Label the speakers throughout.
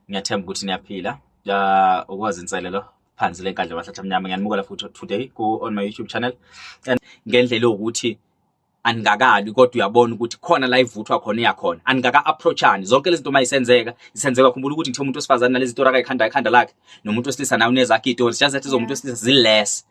Speaker 1: ngiyathemba ukuthi niyaphila ukwazi inselelo phansi le nkandla bahlathi amnyama ngiyanimukela futhi today ku on my youtube channel and ngendlela yokuthi aningakabi kodwa uyabona ukuthi khona la ivuthwa khona iyakhona aningaka approachani zonke lezi zinto uma isenzeka isenzeka khumbula ukuthi ngithe umuntu wesifazane nalezi tora kayikhanda ikhanda lakhe nomuntu wesilisa naye unezakhe itori just that ezomuntu wesilisa ziless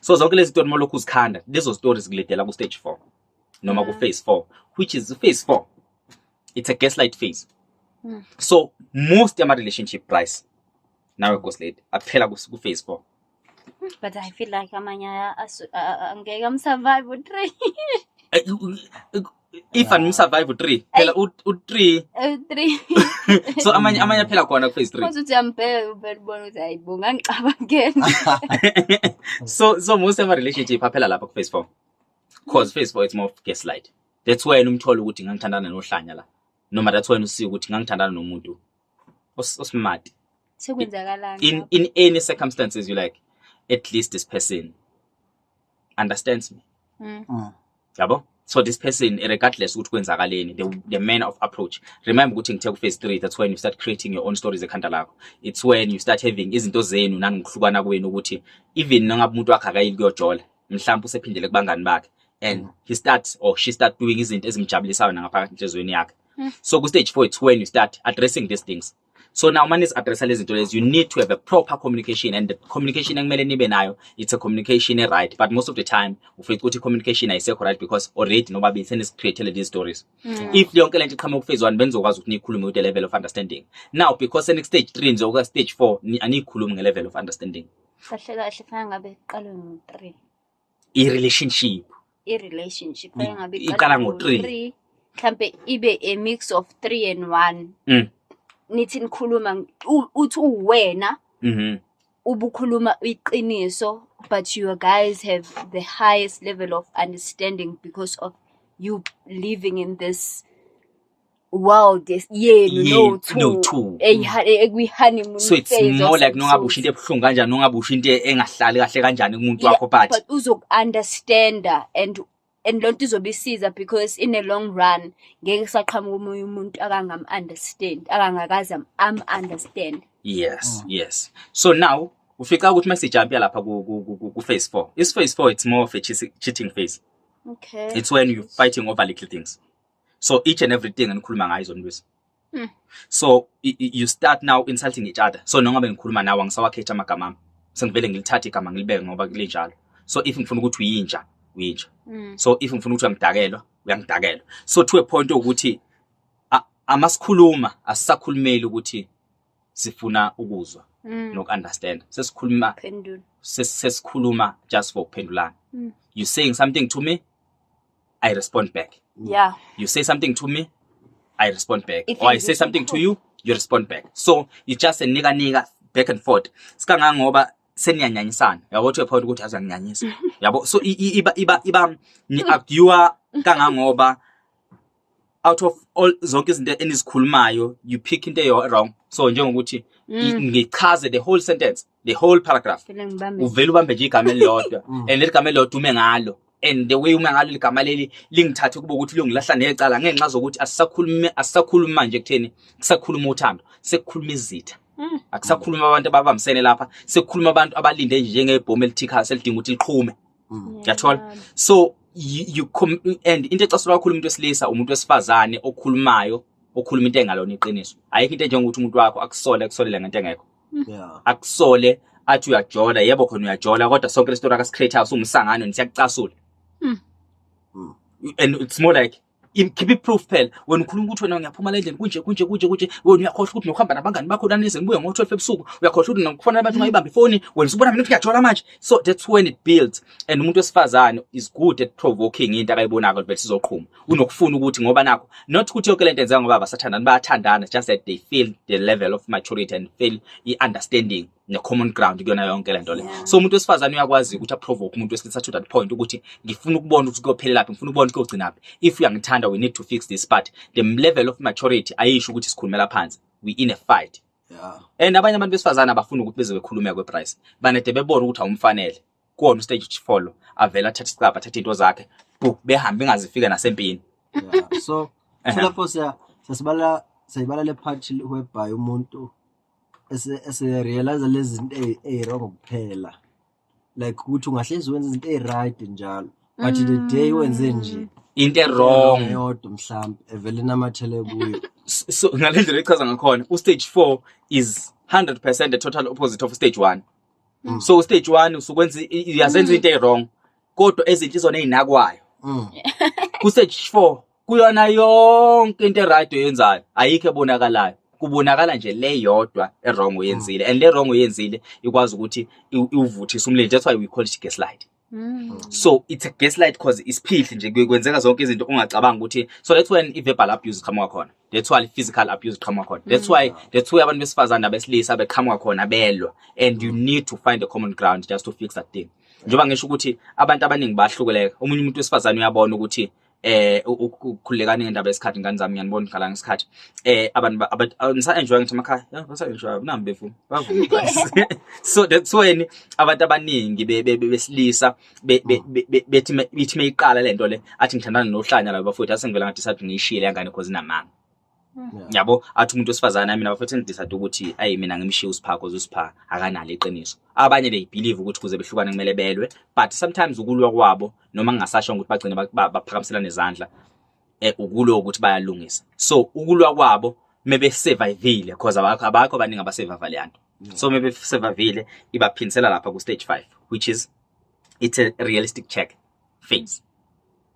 Speaker 1: so zonke lezi story molokhu uzikhanda lezo stories kuledela ku stage 4 noma ku mm. phase 4 which is phase 4 it's a gaslight phase mm. so most yama relationship price nawe ghost lady aphela ku phase 4 but i
Speaker 2: feel like amanye angeke amsurvive u3
Speaker 1: if and survive u3 phela u3 u3 so amanye amanye aphela khona ku phase 3 uthi uyambheka uvela
Speaker 2: ubona ukuthi hayibo ngangicabangeni
Speaker 1: so so most of our relationship aphela lapha ku phase 4 cause phase 4 it's more of gaslight that's why umthola ukuthi ngangithandana nohlanya la noma that's why usika ukuthi ngangithandana nomuntu osmart sekwenzakalani
Speaker 2: in in any
Speaker 1: circumstances you like at least this person understands me mm. mm. yabo so this person regardless ukuthi kwenzakaleni the, the manner of approach remember ukuthi ngithe ku-phase three that's when you start creating your own stories ekhanda lakho it's when you start having izinto zenu nanikuhlukana kwenu ukuthi even nangabe umuntu wakhe akayili kuyojola mhlawumbe usephindele kubangani bakhe and mm. he starts or she start doing izinto ezimjabulisayo nangaphakathi enhliziyweni yakhe mm. so ku-stage four it's when you start addressing these things so now uma nizi-addressa lezi zinto lezi you need to have a proper communication and the communication ekumele nibe nayo it's a communication e-right but most of the time ufica ukuthi communication ayisekho right because already nobabili senizicreatele these stories mm. if yonke le nto iqhamuka ukufezwani benizokwazi ukuthi niyikhulume with the level of understanding now because senik-stage three nje okuka-stage four aniyikhulumi nge-level of understanding kahle kahle fanele
Speaker 2: ngabe kuqalwe ngo-three i-relationship
Speaker 1: i-relationship
Speaker 2: Mm. engabe Iqala ngo-three. three mhlampe ibe a mix of three and one Mm. nithi nikhuluma u- uthi uwena Mhm. ubukhuluma iqiniso but you guys have the highest level of understanding because of you living in this world yes- yenu Yenu no-two no-two. eyiha- e- ekwi-honeymoon so it's phase more or like some
Speaker 1: nongabe usho into sort. ebuhlungu kanjani nongabe usho into engahlali kahle kanjani kumuntu Yeah, wakho but but
Speaker 2: uzoku-understanda and and loo nto izobe isiza because in a long run ngeke kusaqhamuka omunye umuntu akangam-understand akangakaze am- am-understand yes yes
Speaker 1: so now ufica ukuthi uma sijampya lapha ku- ku- ku- ku- ku-phase four is phase four it's more of a cheating- cheating phase okay it's
Speaker 2: when you're fighting
Speaker 1: over little things so each and everything enikhuluma ngayo izonilwisa hmm. so you start now insulting each other so noma bengikhuluma nawe angisawakhethi amagama ami sengivele ngilithathe igama ngilibeke ngoba kulinjalo so if ngifuna ukuthi uyinja uyinja hmm. so if ngifuna ukuthi uyangidakelwa uyangidakelwa so to a point ukuthi amasikhuluma asisakhulumeli ukuthi sifuna ukuzwa mm. noku-understand sesikhuluma sesikhuluma just for ukuphendulana mm. you saying something to me I respond back. Yeah. You say
Speaker 2: something to
Speaker 1: me, I respond back. If or I say something to you, you respond back. So you just a nigga nigga back and forth. Sikangangoba seniyanyanyisana. Yabo to a point ukuthi azanginyanyisa. Yabo so iba iba iba ni arguer kangangoba out of all zonke izinto enizikhulumayo you pick into eyo wrong so njengokuthi mm. ngichaze the whole sentence the whole paragraph uvele ubambe nje igama elilodwa mm. and leli gama elilodwa ume ngalo and the way ume ngalo ligama leli lingithathe kuba ukuthi lungilahla necala ngenxa zokuthi asisakhulumi asisakhulumi manje kutheni kusakhuluma uthando sekukhuluma izitha mm. akusakhuluma abantu ababambisene lapha sekukhuluma abantu abalinde nje njengebhomu elithikha selidinga ukuthi liqhume mm. yathola yeah. so you, you and into ecasulwa kakhulu umuntu wesilisa umuntu wesifazane okhulumayo okhuluma into engalona iqiniso ayikho into njengokuthi umuntu wakho akusole akusolele ngento engekho mm. yeah. akusole athi uyajola yebo khona uyajola kodwa sonke le story akasicreate house umsangano nisiyakucasula mm. mm. and it's more like ngikhiphe iproof phela wena ukhuluma ukuthi wena ngiyaphuma la endlini kunje kunje kunje kunje wena uyakhohlwa ukuthi nokuhamba nabangani bakho nanize nibuye ngo-twelve ebusuku uyakhohlwa ukuthi nokufanele abantu ungayibambi ifoni wena usubona mina ukuthi ngiyajola manje so that's when it builds and umuntu wesifazane is good at provoking into akayibonako vele sizoqhuma unokufuna ukuthi ngoba nakho not ukuthi yonke lento enzeka ngoba basathandana bayathandana just that they feel the level of maturity and feel i-understanding ne-common ground kuyona yonke le nto le so umuntu wesifazane uyakwazi ukuthi aprovoke umuntu wesilisa to that point ukuthi ngifuna ukubona ukuthi kuyophelelaphi ngifuna ukubona ukuthi kuyogcinaphi if uyangithanda we need to fix this part the level of maturity ayisho ukuthi sikhulumela phansi we in a fight yeah. and abanye abantu besifazane abafuni ukuthi beze bekhulumeka kweprice banede bebona ukuthi awumfanele kuwona ustage follow avela athathe isicabha athathe into zakhe bu behambe ingazifika nasempini
Speaker 3: yeah. so lapho siya sasibala sayibala le part whereby umuntu sirealize lezi zinto eyi-wrong kuphela like ukuthi ungahlezi wenza izinto eyi-right njalo but the day wenze nje into ewrong
Speaker 1: yodwa mhlawumbe
Speaker 3: evele inamathele kuyo S- so ngale ndlela
Speaker 1: echaza ngakhona ustage four is 100 percent the total opposite of stage one so ustage one usukwenza i- i- uyazenza into eyi-wrong kodwa ezinhle izona eyinakwayo Mm. kustage four kuyona yonke into eright oyenzayo ayikho ebonakalayo kubonakala nje le yodwa erong oyenzile and le rong oyenzile ikwazi ukuthi iwuvuthise umlilo that's why we call it gaslight Mm. So it's a gaslight cause isiphihli nje kwenzeka zonke izinto ungacabanga ukuthi so that's when i verbal abuse iqhamuka khona that's why physical abuse iqhamuka khona that's mm. why that's why abantu besifazane abesilisa beqhamuka khona belwa and you need to find a common ground just to fix that thing njengoba ngisho ukuthi abantu abaningi bahlukeleka omunye umuntu wesifazane uyabona ukuthi eh ukukhulekani ngendaba yesikhathi ngane zami ngiyanibona ngikhala ngesikhathi eh abantu ngisa enjoy ngithi emakhaya yeah ngisa enjoy nambe fu bavuma so that's when abantu abaningi besilisa bethi bethi mayiqala lento le athi ngithandana nohlanya laba futhi asengivela ngathi sathi ngiyishiyile yangane because inamanga yabo athi umuntu wesifazane mina bafethu ngidecide ukuthi ayi mina ngimshiya uSipha cause uSipha akanalo iqiniso abanye they believe ukuthi kuze behlukane kumele belwe but sometimes ukulwa kwabo noma kungasasho ukuthi bagcine baphakamiselana izandla eh ukulwa ukuthi bayalungisa so ukulwa kwabo mebe survivile cause abakho abakho abaningi abasurvive le yanto so mebe survivile ibaphindisela lapha ku stage 5 which is it's a realistic check phase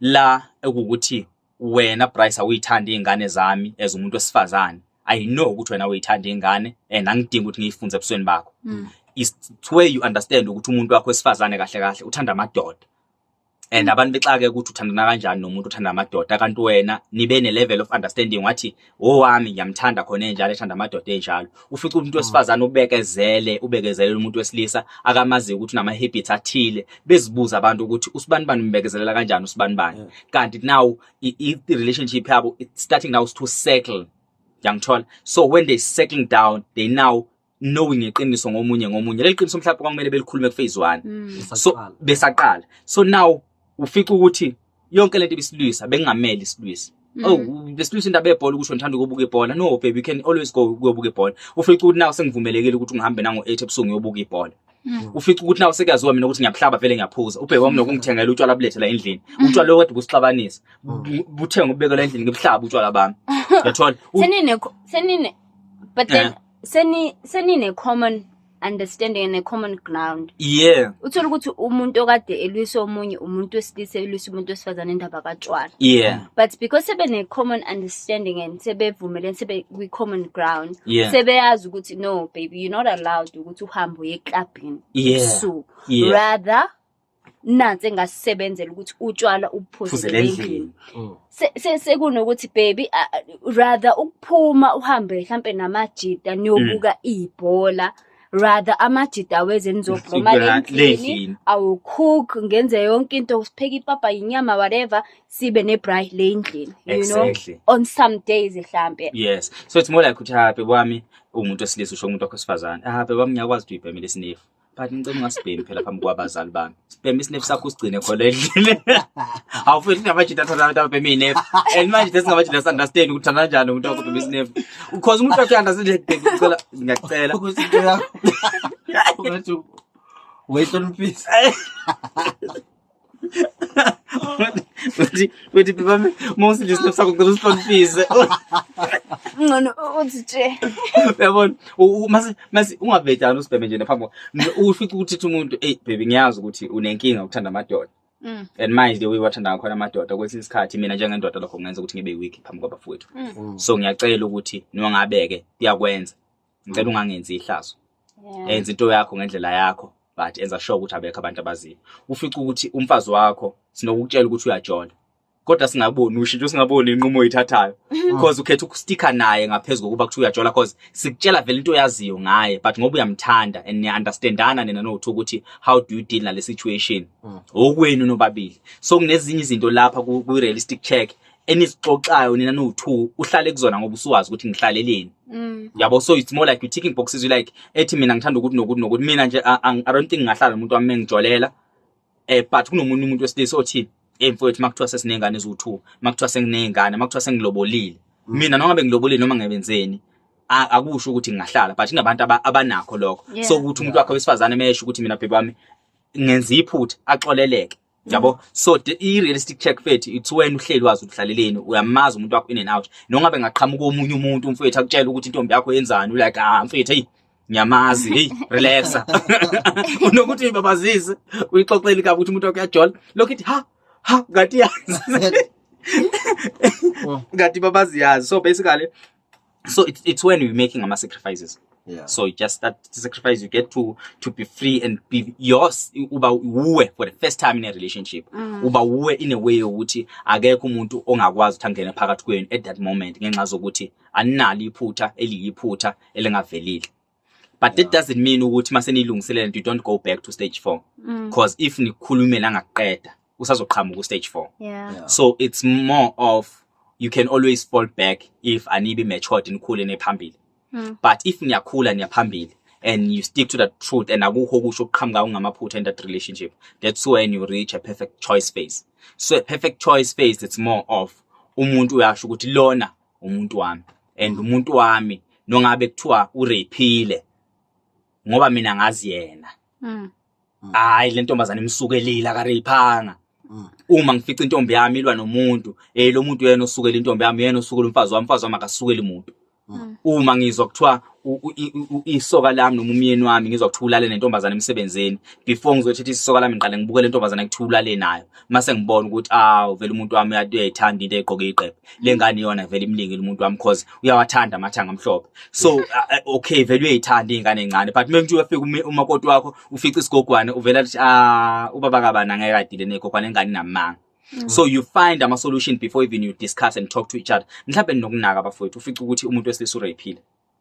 Speaker 1: la ekukuthi wena Bryce awuyithandi izingane zami as umuntu wesifazane i know ukuthi wena uyithanda izingane and angidingi ukuthi ngiyifunze ebusweni bakho mm. is where you understand ukuthi umuntu wakho wesifazane kahle kahle uthanda amadoda and mm. abantu bexake ukuthi uthandana kanjani nomuntu uthanda amadoda kanti wena nibe ne level of understanding wathi owami ngiyamthanda khona enjalo ethanda amadoda enjalo ufica umuntu ah. wesifazane ubekezele ubekezelela umuntu wesilisa akamaziyo ukuthi unama-habits athile bezibuza abantu ukuthi usibani bani umbekezelela kanjani usibani bani kanti now i-relationship yabo starting now is to settle yangithola so when they settling down they now knowing iqiniso ngomunye ngomunye leli qiniso mhlawumbe kwakumele belikhulume kuphase 1 mm. so besaqala so now ufica ukuthi yonke lento ibisilwisa bengameli isilwisa mm. oh besilwisa indaba yebhola ukuthi ngithanda ukubuka ibhola no baby you can always go ukuyobuka ibhola ufica ukuthi nawe sengivumelekile ukuthi ungihambe nango 8 ebusuku ngiyobuka ibhola Mm. ufica ukuthi nawe sekuyaziwa mina ukuthi ngiyabuhlaba vele ngiyaphuza ubheke wami nokungithengela utshwala bulethe la endlini mm. utshwala okade busixabanisa mm. buthenge ubekela endlini ngibuhlaba utshwala bami yathola senine senine
Speaker 2: but then eh. seni senine common understanding and a common ground yeah uthola ukuthi
Speaker 1: umuntu
Speaker 2: okade elwisa omunye umuntu wesilisa elwisa umuntu wesifazane indaba katshwala yeah but because
Speaker 1: sebe ne
Speaker 2: common understanding and sebevumelene sebe kwi common ground yeah. sebeyazi ukuthi no baby you're not allowed ukuthi uhambe uye clubini yeah. so yeah. rather nansi engasebenzela ukuthi utshwala ubuphuzele endlini mm. sekunokuthi baby rather ukuphuma uhambe mhlampe namajita niyobuka mm. ibhola mm. rather amajida aweze nizobhloma lendlini awucook ngenze yonke into sipheke ipapa yinyama whatever sibe ne-bry le ndlini you know on some days mhlampe yes so it's more
Speaker 1: like ukuthi hape kwami ungumuntu osilisa usho umuntu wakho sifazane hape kwami ngiyakwazi ukuthi uyibhemile isinefu but ngicela ungasibhemi phela phambi kwabazali bami sibheme isinefu sakho usigcine khona endlini awufuni ngamajita athanda abantu ababheme inefu and manje this ngamajita sandastand ukuthi thanda kanjani umuntu wakubhema isinefu because umuntu wakhe andastand ngicela ngiyacela ukuthi into
Speaker 3: yakho ungathi wayihloniphisa
Speaker 1: uthi uthi bami mawusilisa nafsa kuqala usihloniphize
Speaker 2: ngcono uthi nje uyabona
Speaker 1: mase mase ungabhejana usibheme nje naphambi ufica ukuthi umuntu hey baby ngiyazi ukuthi unenkinga ukuthanda amadoda Mm. and manje the way wathanda ngakhona amadoda kwesinye isikhathi mina njengendoda lokho kungenza ukuthi ngibe weak phambi kwabafowethu mm. so ngiyacela ukuthi nongabeke kuyakwenza ngicela ungangenzi ihlazo enza into yakho ngendlela yakho but enza sure ukuthi abekho abantu abaziyo ufica ukuthi umfazi wakho sinokukutshela ukuthi uyajola kodwa singaboni ushintsho singaboni inqumo oyithathayo because ukhetha ukustika naye ngaphezulu kokuba kuthiwa uyajola because sikutshela vele into oyaziyo ngaye but ngoba uyamthanda and niya-understandana nina nokuthi ukuthi how do you deal nale situation mm. okwenu nobabili so kunezinye izinto lapha kwi-realistic check enisixoxayo nina nowu-two uhlale kuzona ngoba usuwazi ukuthi ngihlaleleni mm. yabo so it's more like you ticking boxes you like ethi mina ngithanda ukuthi nokuthi nokuthi mina nje i don't think ngahlala nomuntu wami engijolela eh but kunomunye umuntu wesilisa othi hey mfowethu makuthiwa sesiney'ngane eziwu-two makuthiwa senginey'ngane makuthiwa sengilobolile mm. mina noma ngabe ngilobolile noma ngebenzeni akusho ukuthi ngingahlala but kunabantu abanakho lokho so ukuthi umuntu wakhe wesifazane mesho ukuthi mina bhebami ngenza iphutha axoleleke yabo so i-realistic check fethu it's wena uhleli wazi ukuhlaleleni uyamazi umuntu wakho in and out nongabe ngaqhamuka omunye umuntu umfethu akutshela ukuthi intombi yakho yenzani ulike ah mfethu hey ngiyamazi hey relaxa unokuthi uyibabazise uyixoxeli kabi ukuthi umuntu wakho uyajola lokhu ithi ha ha ngathi yazi ngathi babaziyazi so basically so it's, it's when you're making ama sacrifices yeah. so just that sacrifice you get to to be free and be yours uba uwe for the first time in a relationship mm. uba uwe in a way yokuthi akekho umuntu ongakwazi ukuthi angene phakathi kwenu at that moment ngenxa zokuthi aninalo iphutha eliyiphutha elingavelile but that doesn't mean ukuthi mase nilungiselela you don't go back to stage 4 mm. cause if nikhulume la ngakuqeda usazoqhamuka stage 4 yeah. yeah. so it's more of you can always fall back if anibe matured nikhule nephambili mm. but if niyakhula niyaphambili and you stick to the truth and akukho kusho ukuqhamuka ungamaphutha in that relationship that's when you reach a perfect choice phase so a perfect choice phase it's more of umuntu uyasho ukuthi lona umuntu wami and umuntu wami nongabe kuthiwa urephile ngoba mina ngazi yena Mm. hayi le ntombazane imsukelile akareyiphanga Mm. uma ngifica intombi yami ilwa nomuntu eh lo muntu yena osukela intombi yami yena osukela umfazi wami umfazi wami akasukeli muntu Mm. uma ngizwa kuthiwa isoka lami noma umyeni wami ngizwa kuthiwa ulale nentombazane emsebenzini before ngizothetha isoka lami ngiqale ngibuke le ntombazane kuthiwa ulale nayo mase ngibona ukuthi awu vele umuntu wami uyayithanda into egqoke iqephe le ngane yona vele imlingile umuntu wami cause uyawathanda amathanga amhlophe so uh, uh, okay vele uyayithanda ingane encane but manje uyafika umakoti wakho ufica isigogwane uvela athi ah ubaba kabana ngeke adile negogwane ingane namanga Mm. so you find ama solution before even you discuss and talk to each other mhlawumbe ninokunaka bafowethu ufica ukuthi umuntu wesilisa urephile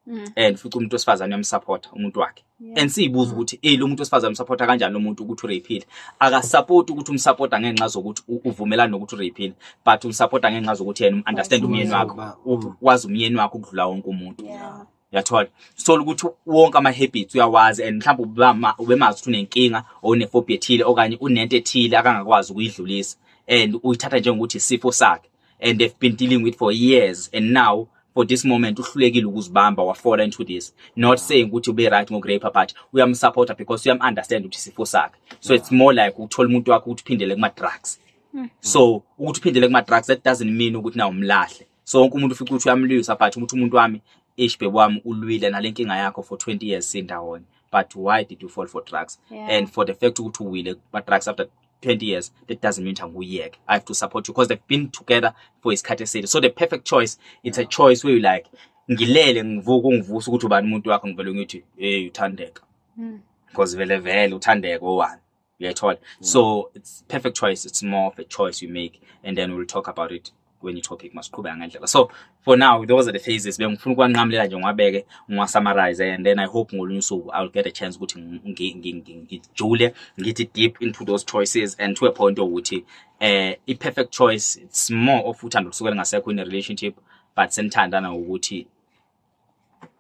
Speaker 1: Mm. and ufica umuntu wesifazane uyamsupporta umuntu wakhe Yeah. and siyibuza Mm. ukuthi eh lo muntu wesifazane umsupporta kanjani lo muntu ukuthi urephile akasupport ukuthi umsupporta ngenxa zokuthi u- uvumelana nokuthi urephile but umsupporta ngenxa zokuthi yena understand Wazi umyeni umyeni wakho wakho. u- wazi umyeni wakho ukudlula wonke umuntu Yeah. uyathola sithola ukuthi wonke ama-habits uyawazi and mhlawumbe ubemazi ukuthi unenkinga or unefobi ethile okanye unento ethile akangakwazi ukuyidlulisa and uyithatha njengokuthi isifo sakhe and they've been dealing with for years and now for this moment uhlulekile ukuzibamba wafola into this not saying ukuthi ube right ngokurepa but uyamsupporta because uyamunderstand ukuthi isifo sakhe so it's more like ukuthola umuntu wakho ukuthi uphindele kuma-drugs hmm. so ukuthi uphindele kuma-drugs that doesn't mean ukuthi na umlahle sonke umuntu ufica ukuthi uyamlwisa but umuthi umuntu wami ish bhebo wami ulwile nale nkinga yakho for 20 years sindawonye but why did you fall for drugs yeah. and for the fact ukuthi uwile but drugs after 20 years that doesn't mean anguyeke i have to support you because they've been together for isikhathi eside so the perfect choice it's a choice where you like ngilele ngivuka ungivusa ukuthi ubani umuntu wakho ngivele ngithi hey uthandeka hmm. because vele vele uthandeka owani uyayithola mm. so it's perfect choice it's more of a choice you make and then we'll talk about it kwenye topic masiqhubeka ngendlela so for now those are the phases bengifuna ukwanqamulela nje ngiwabeke ngiwasummarize and then i hope ngolunye usuku i'll get a chance ukuthi ngijule ngithi deep into those choices and to a point ukuthi eh i perfect choice it's more of uthando lusukela ngasekho in a relationship but senithandana ukuthi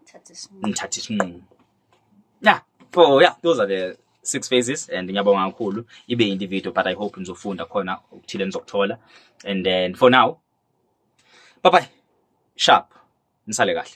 Speaker 1: Thatha isinqumo. ngithatha isinqumo ya so ya those are the six phases and ngiyabonga kakhulu ibe yindi video but i hope nizofunda khona okuthile nizokuthola and then for now bye bye sharp nisale kahle